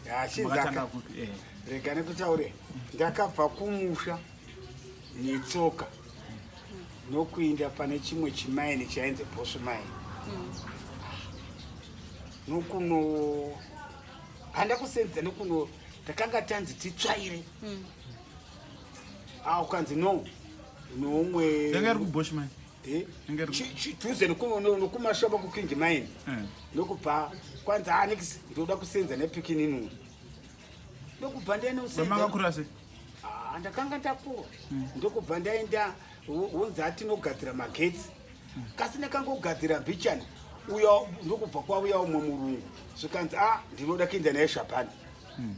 yachinzaka eh. rega nekutaure ndakabva kumusha netsoka nokuinda pane chimwe chimaini chainzi bosu maini mm. nokuno handa kusenza nokuno takanga tanzi titsvaire mm. a ah, ukanzi no noumwe Eh, chituze nokumashopa kuking mine eh. ndokubva kwanzi anix ndoda kusenza nepikininu ndokubva ndenomakakura se ah, ndakanga ndakura hmm. ndokubva ndaenda wonzi atinogadzira magetsi hmm. kasi ndakangogadzira bichani uya ndokubva kwauya umwe murungu zvikanzi a ah, ndinoda kuenda naye shapani hmm.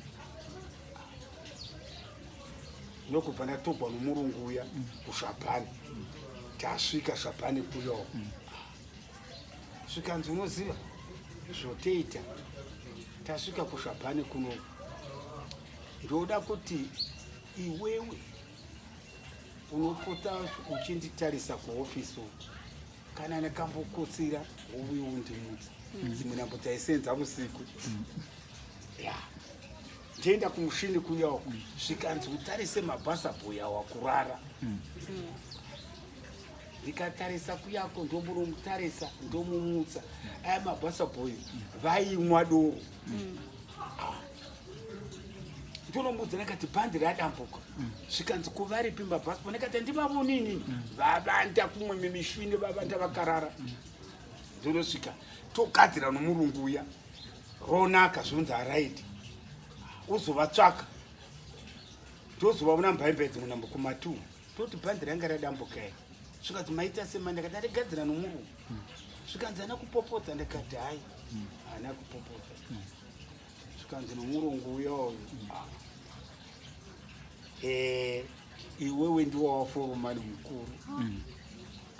ndokubva ndatogwa nomurungu uya kuzvapani tasvika zvapani kuyo zvikanzi unoziva zvoteita tasvika kuzvapani kuno ndoda kuti iwewe unopota uchinditarisa kuhofisi uku kana ndakambokotsira wovuyo undimutsa mm. dzimwe nambo taisenza vusiku mm. ya yeah. Ndienda kumushini kuya uku zvikanzi utarise mabasa boya wakurara hmm. ndikatarisa kuyako ndomunomutarisa ndomumutsa aya mabasa boy vaimwa doro hmm. ah. ndonomuudza nakati bhandi radambuka hmm. zvikanzi kuvaripi mabasa boy nakati ndivavonini vavanda kumwe mimishini vavanda vakarara ndonosvika togadzira nomurungu uya ronaka zvinonzi haraidi uzovatsvaka tozovaona mbaimba idzi munambo kumatu toti bhandi ranga radambukai zvikanzi maita sema ndakati andigadzira nomurume zvikanzi ana kupopodza ndakati hai ana kupopodza zvikanzi nomurungu uyoyo mm. eh, iwewe ndiwo waforomani mukuru mm.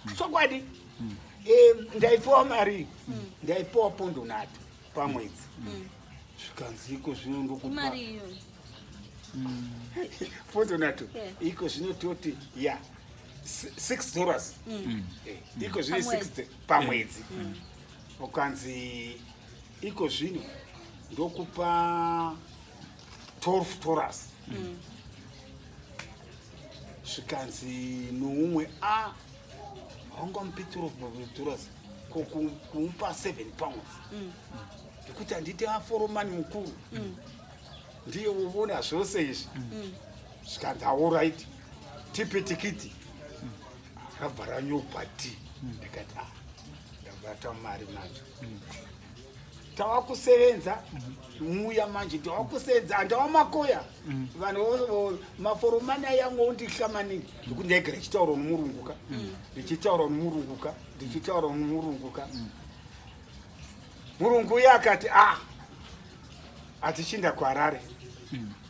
mm. chokwadi mm. eh, ndaipiwa mari ndaipiwa pondo nhatu pamwedzi zvikanzi iko zvino ndokupa pondo nhatu iko zvino toti ya six dollars eh, iko zvino six pamwedzi ukanzi iko zvino ndokupa 12 toras mm. zvikanzi noumwe a haungamupi 12 toras kumupa 7 pounds mm. nekuti handiti aforomani mukuru mm. ndiye uvona zvose izvi mm. zvikanzi aorit tipi tikiti rabva ranyokwa ti ndikati a ah, ndabata mari macho tava kusevenza muya manje tava kusevenza handava makoya vanhu maforomani ayangu ondihla maningi nekuti ndaigara ichitaura nomurunguka ndichitaura nomurunguka ndichitaura nomurunguka murungu uye akati a ah, atichinda kuharare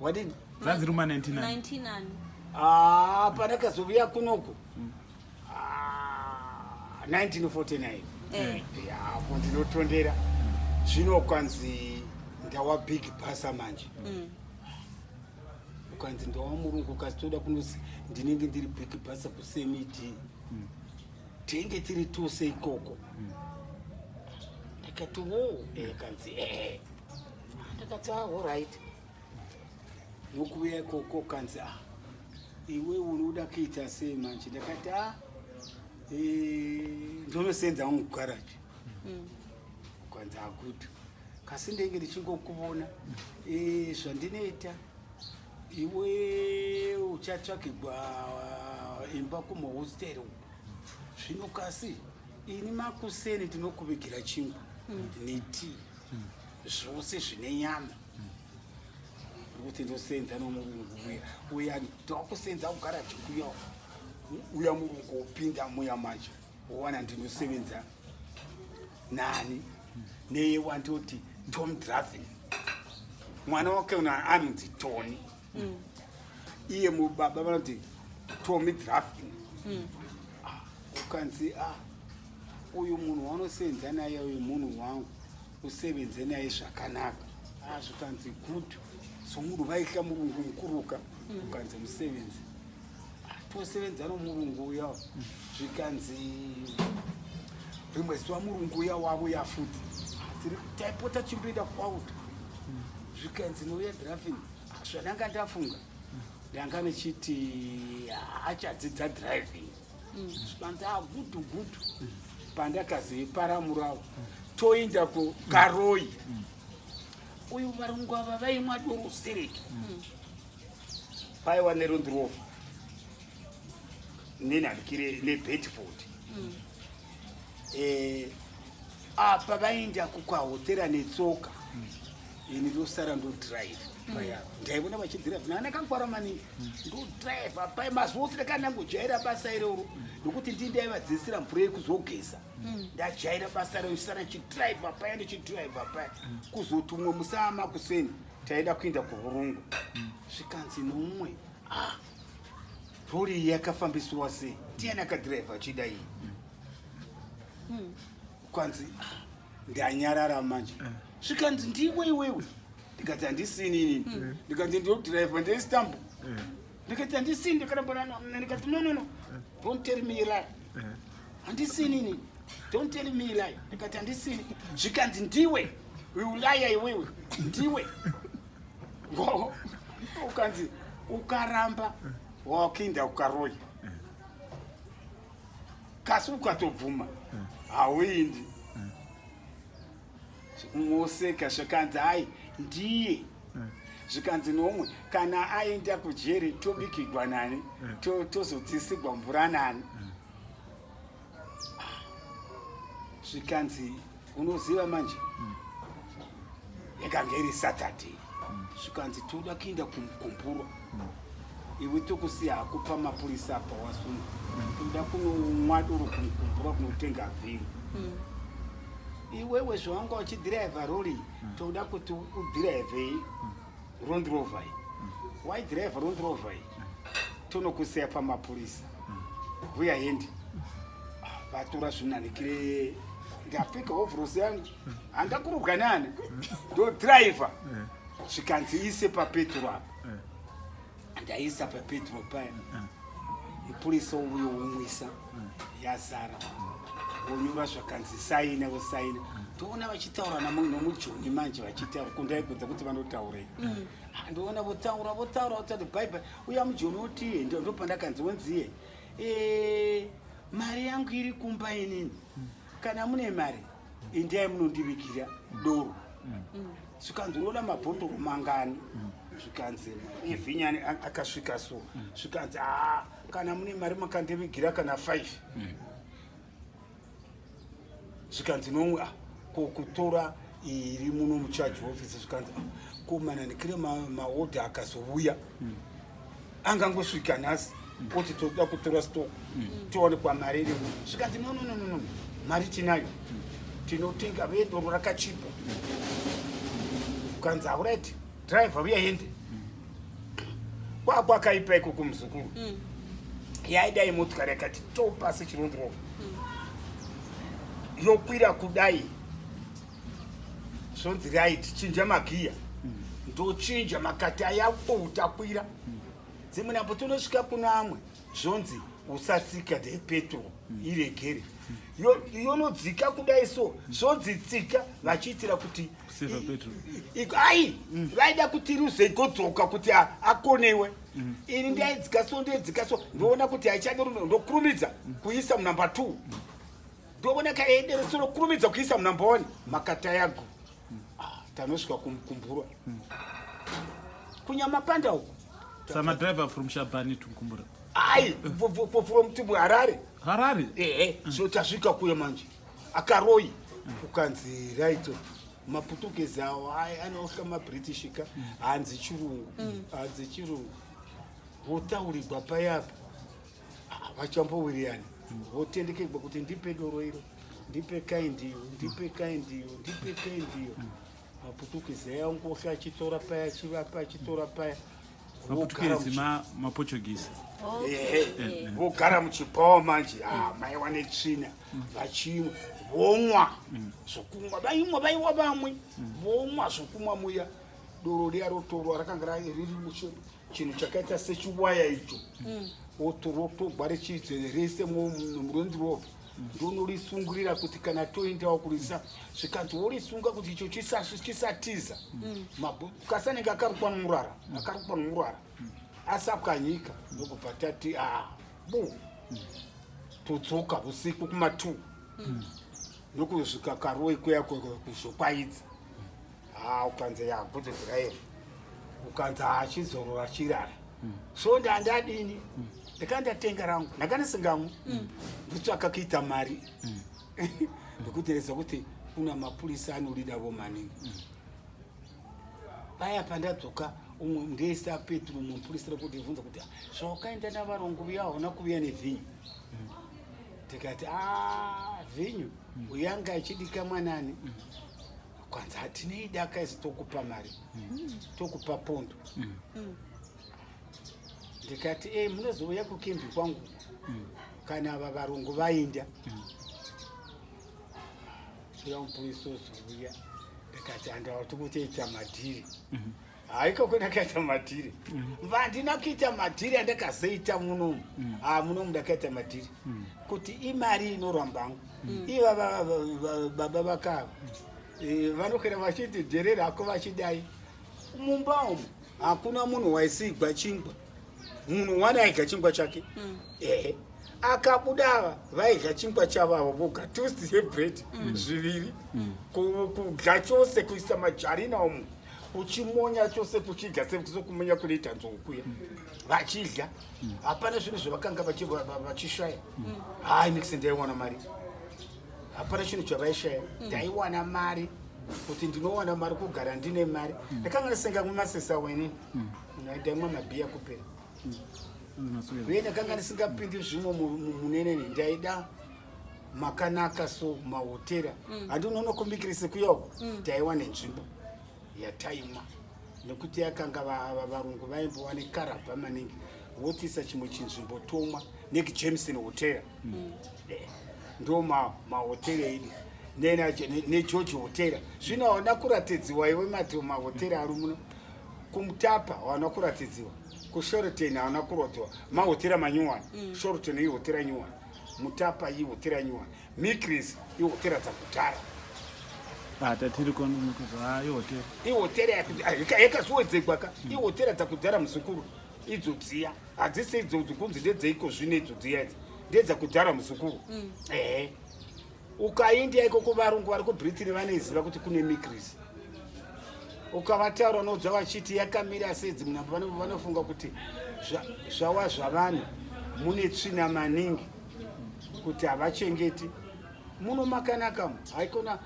wadini zanzi ruma 99 ah pana kazoviya kunoko 1949 ah, eh. yapo ndinotondera zvino kwanzi ndawa big pasa manje mm. ukanzi ndawa murungu ukazitoda kunozi ndinenge ndiri big pasa kusemiti mm. tenge tiri tose ikoko mm. ndikati wo eh, kanzi ehe eh. ndakati ah, alright nokuuya ikoko kanzi ah iwe unoda kuita sei manje ndakati a ah, eh, ndonosenza wangu garaji mm. kwanzi akuti kasi ndenge ndichingokuvona eh, zvandinoita iwe uchatsvakigwa eh, imba kumahosteri uku zvino kasi ini makuseni tinokuvigira chingwa mm. netii zvose zvine nyama kuti ndosenza nomurungu uya uya ndokusenza kugara chikuya uya murungu upinda muya manje wowana ndinosevenza nani neye wandoti tom draven mwana wake uno anonzi tony mm. iye mubaba vanoti tomy draven mm. ah, ukanzi ah, uyu munhu wanosenza naye uyu munhu wangu usevenze naye zvakanaka ah, zvikanzi good so munhu vaihla murungu mukuruka mm. ukanzi musevenzi ah, tosevenza nomurungu uya zvikanzi rimwe zuva murungu uya wavo yafuti tiri taipota chimboenda kwauta mm. zvikanzi nouya driving ah, zvananga ndafunga ndanga ndichiti achadzidza driving Banza gudu gudu pandakazi paramurawo toinda ku Karoi. Uyu varungu ava vaimwa doro siriki. Paiwa nerundrofa. Nina ndikire ne Bedford. eh, apa vaenda kukwahotera netsoka ini ndosara ndodrive paya ndaivona vachidrive nana kakwara maningi ndodrive apai mazuva ose ndakanangojaira basa iroro nokuti ndi ndaivadzidzisira mvura yekuzogeza ndajaira basa rero sara chidrive apaya ndichidrive apaya kuzoti umwe musaa makuseni taida kuenda kuvurungu zvikanzi nomwe ah Rori yakafambiswa sei? Ndiani akadhiraivha achida iyi? Hmm. Kwanzi ndanyarara manje. Eh. Zvikanzi ndiwe iwewe. Ndikati handisini inini. Hmm. Ndikati ndodhiraivha ndiri stambo. Eh. Ndikati handisini ndikarambana ndikati no no no. Eh. Don't tell me lie. Handisini inini. Don't tell me lie. Ndikati handisini. Zvikanzi ndiwe. Uyu laya iwewe. Ndiwe. ukanzi ukaramba wakuinda ukaroya kasi ukatobvuma hauindi moseka zvikanzi hai ndiye zvikanzi nomwe kana aenda kujeri tobikigwa nani tozodzisigwa mvura nani zvikanzi unoziva manje mm. yakange iri saturday mm. zvikanzi toda kuenda kumgumburo mm. iwe tokusiya hako pamapurisa apa wasunga mm. toda kunomwa doro kumgumburo kunotenga vhini mm. iwewe zvawanga uchidhiraivha rori mm. toda kuti udhiraivhei mm. Round Rover. Why drive Round Rover? Tonokuseya pamapurisa. Huya hendi. Vatura zvinanikire. Ndapfeka hovhorosi yangu. Handakurubwa nani. Ndo driver. Zvikanzi ise papeturu apo. ndaisa papedro paya mupurisa uyo womwisa yazara wonyura zvakanzi saina vosaina toona vachitaura nomujoni manje vachitaura kundaibvunza kuti vanotaurei mm. ah, ndoona votaura votaura votati bhaibhai uya mujoni otiye ndopandakanzi wonziye eh, mari yangu iri kumba inini mm. kana mune mari Endai munondivigira doro. Zvikanzi unoda mabhotoro mangani? Zvikanzi Evhinyani a- akasvika so. Zvikanzi ah kana mune mari makandivigira kana 5. zvikanzi nomwe ah, ko kutora iri muno mucharge office zvikanzi ah, ko manandikire maodha akazouya angangosvika nhasi kuti toda kutora stock mm. tione kwamari iri zvikanzi no nononono mari tinayo mm. tinotenga vedoro rakachipa ukanzi aurite driver uya hende mm. kwakwakaipa iko kumuzukuru yaidai motikari yakati topasi chirondirova yokwira kudai zvonzi rai tichinja magiya ndochinja makati aya outakwira dzimwe nambo tonosvika kuno amwe zvonzi usatsika the petrol iregere yonodzika kudai so zvonzi tsika vachiitira kuti ai mm. vaida kuti ruze igodzoka kuti akonewe mm. ini ndaidzika so ndaidzika so ndoona kuti haichade runo ndokurumidza mm. kuisa munumber two Ndovona kaende rusoro kurumidza kuisa munamba wani makata yago. Ah, tanosvika kumkumbura. Hmm. Kunyama panda uko. Sama driver from Shabani to Mkumbura. Ai, from to Harare. Harare? Eh, eh. Hmm. So tasvika kuya manje. Akaroi. Hmm. Ukanzi right. Oh. maputukezi awo anohla mabritish ka hanzi chirungu hanzi chirungu wotaurirwa payapa Ah, vachamba wiriyani votendekegwa kuti ndipe doro iro ndipe kai ndiyo ndipe kai ndiyo ndipe kai ndiyo maputukezi aya ngosha achitora paya achivapa achitora paya maputukezi maportuguese vogara muchibhawa manje ah, maiwa netsvina vachimwa vomwa mm. zvokumwa vaimwa vaiwa vamwe mm. vomwa zvokumwa muya doro riya rotorwa rakanga riri muchemba chinhu chakaita sechiwaya icho mm. otorotogwa richizere rese muronzi rova ndonorisungurira kuti kana toendawo kurisa zvikanzi worisunga kuti icho chisatiza mm. kasanenge akarukwa nomurara mm. akarukwa nomurara asapwanyika ndokubva tati a ah, bu todzoka usiku kumatwo ndokusvika karoyi kuya kuzokwaidza ha ah, ukanza yakuti dhiraivha ukanza hachizorora ah, chirara mm. so ndandadini mm. ndakandatenga rangu ndakandisingamwe mm. ndotsvaka kuita mari mm. ndikutereza kuti kuna mapurisa anodida vo maningi mm. paya pandadzoka umwe ndeisa petro mupurisa rekutibvunza kuti zvawakaenda navarongo viya hauna kuviya nevhinyu mm. tikati ah, vhinyu mm. uyanga achidika mwanani mm. kwanzi hatinei daka isi tokupa mari mm. tokupa pondo mm. mm. ndikati e munozouya kukimbi kwangu mm. kana ava varungu vainda mm. uya mupurisi ozouya ndikati andawati kutoita madhiri mm -hmm. haikoko ndakaita madhiri vandina mm. kuita madhiri andakazoita munomu mm. ah, munomu ndakaita madhiri mm. kuti imari inorwambangu iva baba vakava eh, vanokwira vachiti jere rako vachidai mumba umu hakuna munhu waisigwa chingwa munhu wani aidya chingwa chake ehe akabuda ava vaidya chingwa chavo avo voga toast yebread zviviri kudya chose kuisa majarina umu kuchimonya chose kuchidya sesokumonya kunoita nzou kuya vachidya hapana zvinhu zvavakanga vachishaya hai nix ndaiwana mari hapana chinhu chavaishaya ndaiwana mari kuti ndinowana mari kugara ndine mari ndakanga ndisenga kumasesa weni ndaimwa mabhiya kupera uye ndakanga ndisingapindi zvimwe muneneni ndaida makanaka so mahotera mm. handi unonokumbikiri sekuya uko mm. taiwa nenzvimbo yataimwa nekuti yakanga varungu vaimbowa nekarabha maningi wotisa chimwe chinzvimbo tomwa neki jameson hotera mm. eh, ndo mahotera idi negeorge hotera zvino haona kuratidziwa iwe mati mahotera ari muno kumutapa haona kuratidziwa kushorten haona kurotewa mahotera manyuwani shorten ihotera nyuwani mutapa iyi hotera nyuwa mikris ihotera dzakudhara ah, ihotera ah, yakazoedzegwa ka hmm. ihotera dzakudhara muzukuru idzo dziya hadzisi idzo kunzi ndedzeiko zvino idzo dziya idzi ndedzakudhara muzukuru hmm. ehe ukaindia ikoko varungu vari kubritiri vanoiziva kuti kune mikrisi ukavataura unoudza vachiti yakamira sedzi munambo vanofunga kuti zvawa zvavanhu mune tsvina maningi kuti havachengeti muno makanaka mu haikona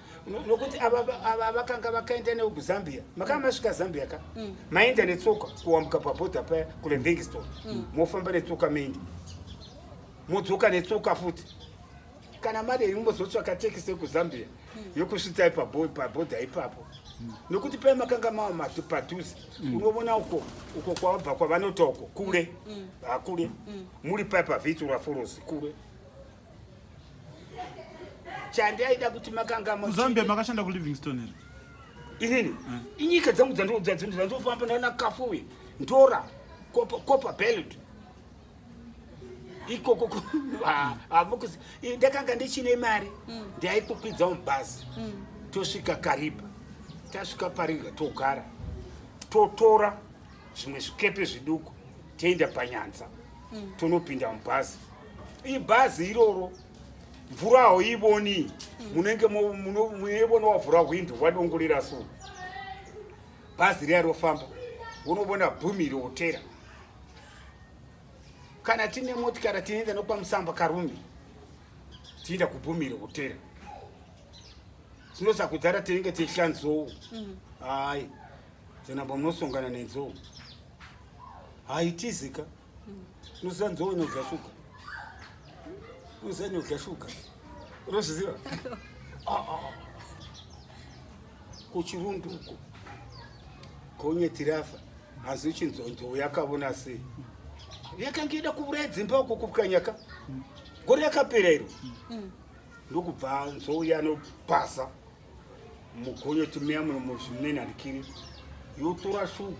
nokuti ava vakanga vakaenda newo kuzambia makanga masvika zambia ka mm. maenda netsoka kuwambuka pabhodha paya kulevingstone mm. mofamba netsoka mendi modzoka netsoka futi kana mari yeimbozotsvaka tekisi yekuzambia hmm. yokusvitsai pabhodha ipapo hmm. nokuti paye makanga mava matu padhuze hmm. unovona uko uko kwavabva kwavanota uko kure hakure muri paye pavhitura forosi kure chandi aida kuti makanga muzambia makashanda kulivingston here inini inyika dzangu dzandodza dzandofamba ndana kafuwe ndora copper belt ikoko hamukuzi ah, ah, ndakanga ndichine mari mm. ndaikukwidza mubhazi mm. tosvika kariba tasvika paringa togara totora zvimwe zvikepe zviduku toenda panyanza mm. tonopinda mubhazi ibhazi iroro mvura hauivoni munenge munoivona wavhura hwindo wadongorera so bhazi riya rofamba unobona bhumi riotera kana tine motikari tinoenda nokupa musamba karume tienda kubhumiro hotera tinosakudhara tinenge tichitya nzou mm. hayi dzenamba munosongana nenzou haitizika mm. unoziva nzou inodya shuga unoziva inodya shuga unozviziva ah, ah, ah. kuchirundu uko konye tirafa Asi chinzonzo yakavona sei? Yakange ida kuvuraya dzimba uko kupwanyaka. Gore yakapera iro. Mm. Ndokubva nzou yanopasa mugonyo timeya muno muzvimene handikiri yotora shuga